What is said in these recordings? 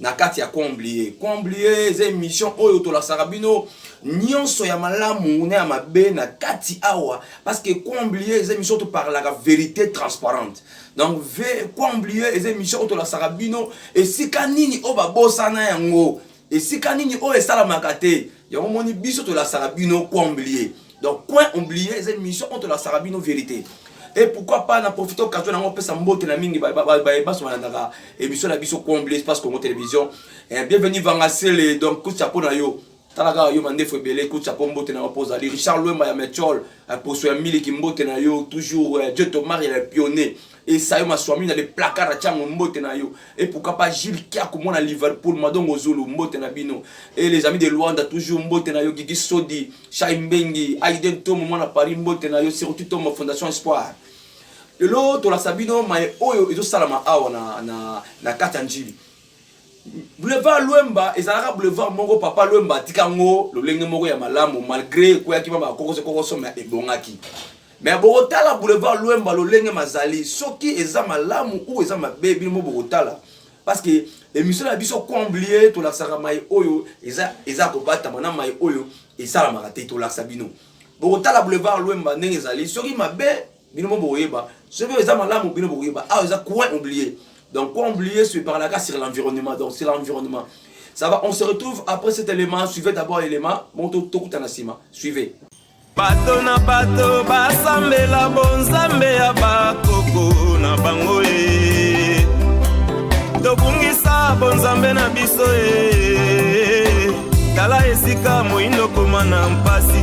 na kati ya comblie comblie eza émission oyo tolasaka bino nyonso ya malamu na ya mabe na kati awa parce que comblie eza émission toparlaka vérité transparente donc comblie eza émission oyo tolasaka bino esika nini oyo babosana yango esika nini oyo esalamaka te yango moni biso tolasaka bino coin oublie donc coin oublie eza émission oyo tolasaka bino vérité et pourquoi pas na profite occasion nango opesa mbote na mingi baso balandaka émission na biso coin oublie espace congo télévision eh, bienvenue vanga sele donc kutia mpo na yo tala kaka yo mandefu ebele kutia mpo mbote na yo mpo ozali richard lwemba ya mechol eh, poso ya miliki mbote na yo toujours eh, dieu tomar ya pionnier esayo maswami na le placard atia yango mbote na yo et pourquoi pas Gilles Kiaku mwana Liverpool madongo zulu mbote na bino et les amis de Luanda toujours mbote na yo Gigi Sodi Shai Mbengi Aiden Tomo mwana Paris mbote na yo surtout Tomo Fondation Espoir lelo tolakisa bino maye oyo ezosalama awa na, na, na kati ya njili Boulevard Luemba ezalaka boulevard moko papa Luemba atika ngo lolenge moko ya malamu malgré ekweyaki mama kokoso kokoso mais ebongaki mais bokotala boulevard Luemba lolenge mazali soki eza malamu ou eza mabe bino mo bokotala parce que émission na biso comblie tolakisaka mai oyo eza eza kobatama na mai oyo esalamaka te tolakisa bino bokotala boulevard Luemba ndenge ezali soki mabe bino mo boyeba soki eza malamu bino boyeba awa eza coin oublié donc coin oublié se parlaka sur l'environnement donc sur l'environnement ça va on se retrouve après cet élément suivez d'abord l'élément bon tokutana nsima suivez bato na bato basambela bonzambe ya bakoko na bango e tobungisa bonzambe na biso e tala esika moindo koma na mpasi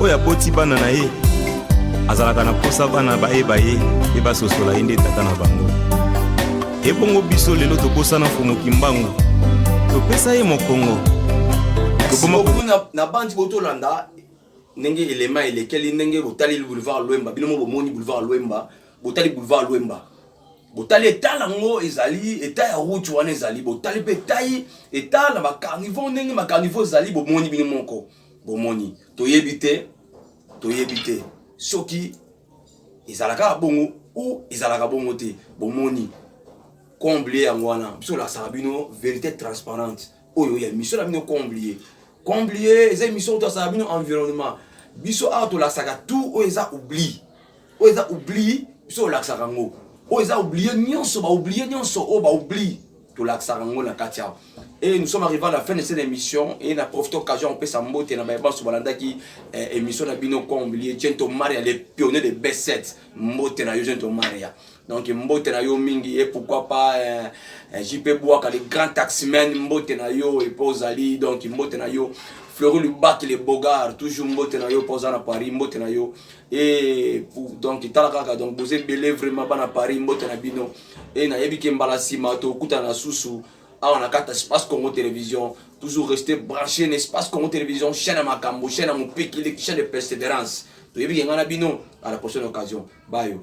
oyo aboti bana na ye azalaka na mposa bana bayeba ye mpe basosola ye nde tata na bango ebongo biso lelo tobosana mfumu kimbangu topesa ye mokongo na bandi botolanda ndenge elema elekeli ndenge botali boulevard lwemba bino mo bomoni boulevard lwemba botali boulevard lwemba botali etat yango ezali etat ya route wana ezali botali mpe etai etat na bacarniveau ndenge bacarniveau ezali bomoni bino moko Bomoni, toyebi te, toyebi te soki ezalaka bongo o ezalaka bongo te. Bomoni, comblie yango wana biso olasaka bino verite transparente oyo ya mission na bino comblie comblie eza mission oyo tolasaka bino environnement biso awa tolasaka tout oyo eza oubli oyo eza oubli biso olakisaka yango oyo eza oublie nyonso baoublie nyonso oyo baoubli tolakisaka yango na kati awa e nous sommes arrivé à la fin de cette émission e na profite occasion kopesa mbote na baye banso balandaki eh, émission na bino combilie jento maria le pionnier de b7 mbote na yo jento maria donc mbote na yo mingi e pourquoi pas eh, eh, jp bwaka le grand taximan mbote na yo epe ozali donc mbote na yo fleuri lubaki le bogar toujours mbote na yo mpo oza na paris mbote na yo Et donc tala kaka donc boza ebele vraiment bana paris mbote na bino e nayebi ke mbala nsima tokutana susu awa na kati ya space congo télévision toujours rester branché na espace congo télévision chaîne ya makambo chaîne ya mopikili chaîne de persévérance toyebi ke ngai na bino à la prochaine occasion bayo